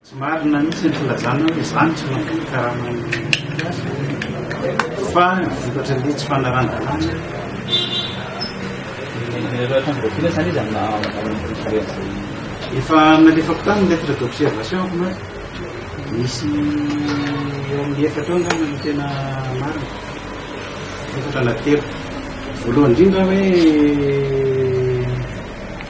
Tsy marina mihitsy ny filazana hoe izaho no tsy mahazoa karama ny mpiasa fa vokatry ny tsy fanaran-dalàna efa nalefako tany ny lettre d'observation ako na misy eo amin'ny efatra eo angamba ny tena marina efatra na telo voalohany indrindra hoe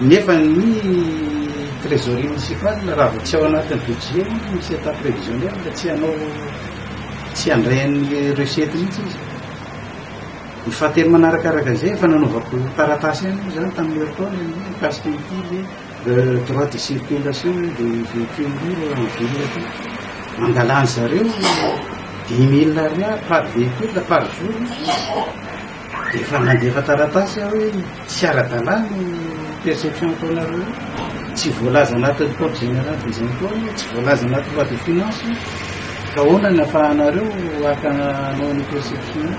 Nefa ny trésorerie municipal raha vao tsy ao anatin'ny budget ny misy état prévisionnel dia tsy hanao tsy handray an'ny recette mihitsy izy. Ny fahatelo manarakaraka izay efa nanaovako taratasy ihany moa izany tamin'ny herintaona ny mikasika ity ilay droit de circulation dia véhicule en ville ity. Mangalan'ny zareo dix mille ariary par véhicule par jour. Efa nandefa taratasy aho hoe tsy ara-dalàna io perception ataonareo io. Tsy voalaza anatin'ny code général des impôts io, tsy voalaza anatin'ny loi de finances io. Ka ahoana ny ahafahanareo haka hanao an'io perception io?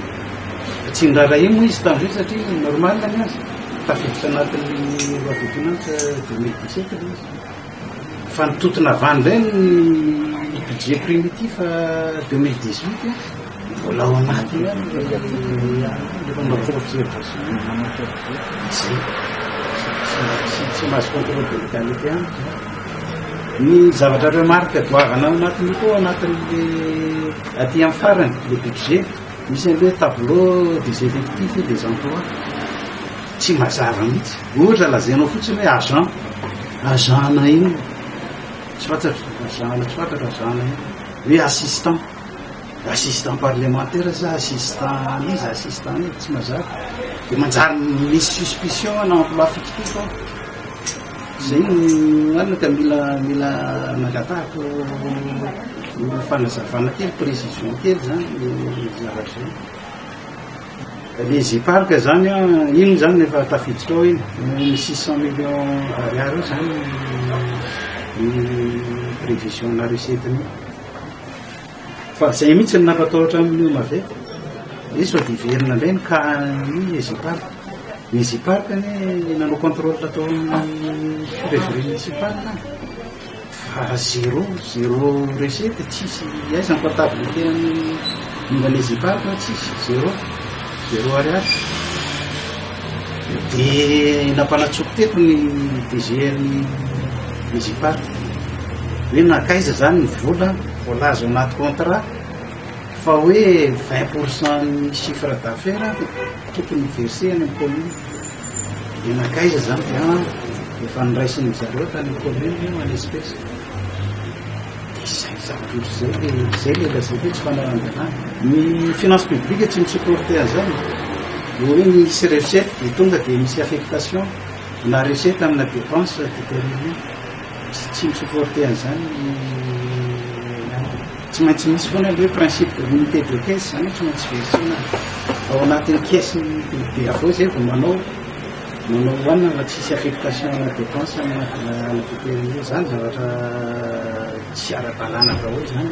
Tsy niraharahiany moa izy tamin'izay satria normal ny azy. Tafiditra anatin'ny loi de finances deux mille dix-sept ilay izy. Fa ny totona van indray ny budget primitif 2018 mbola ao anaty tsy mahazo contrôle de légalité amiko ny zavatra remarque doavana ao anatin'io koa anatin'le aty amin'ny farany le budget misy an'le tableau des effectifs et des emplois Tsy mazava mihitsy. Ohatra lazainao fotsiny hoe agent. Agent na inona. Tsy fantatro. Agent na tsy fantatro agent na inona. Hoe assistant. Assistant parlementaire sa assistant iza assistant iza. Tsy mazava. Dia manjary misy suspicion ana emploi fictif ao. Izay no marina ka mila mila nangatahako fanazavana kely, précision kely izany zavatra izany. Ilay J-Park izany an, inona izany no efa tafiditra ao iny? Ny six cent millions ariary io izany ny prévision-na recette-ny. Fa izay mihitsy no nampatahotra an'i Miomave. Hoe sao dia hiverina indray ny cas-n'ny J-Park. Ny J-Park anie nanao contrôle tao amin'ny février sy mars any. Fa zero, zero recette, tsisy aiza ny comptabilité an'i Indonesie Park an, tsisy, zero, zero ariary. Dia nampanatsoko teto ny DGR-n'i Indonesie Park, hoe nankaiza izany ny vola voalaza ao anaty contrat fa hoe vingt pour cent-n'ny chiffre d'affaires tokony hi-verser any amin'ny commune. Dia nankaiza izany dia efa noraisin dry zareo tany commune io any espèce. Dia izay zavatra ohatr'izay dia izay ilay lazaiko hoe tsy fanarahan-dalàna. Ny finance publique tsy mi-supporter an'izany. Dia hoe misy recette dia tonga dia misy affectation na recette amina dépense determinée. Tsy mi-supporter an'izany ny namana. Tsy maintsy misy foana ilay hoe principe de l'unité de caisse izany hoe tsy maintsy verser-na ao anatin'ny caisse-n'ny biby avy ao izay vao manao manao hohanina fa tsisy affectation ana dépense any anatin'ny ala potery io. Izany zavatra tsy ara-dalàna daholo izany.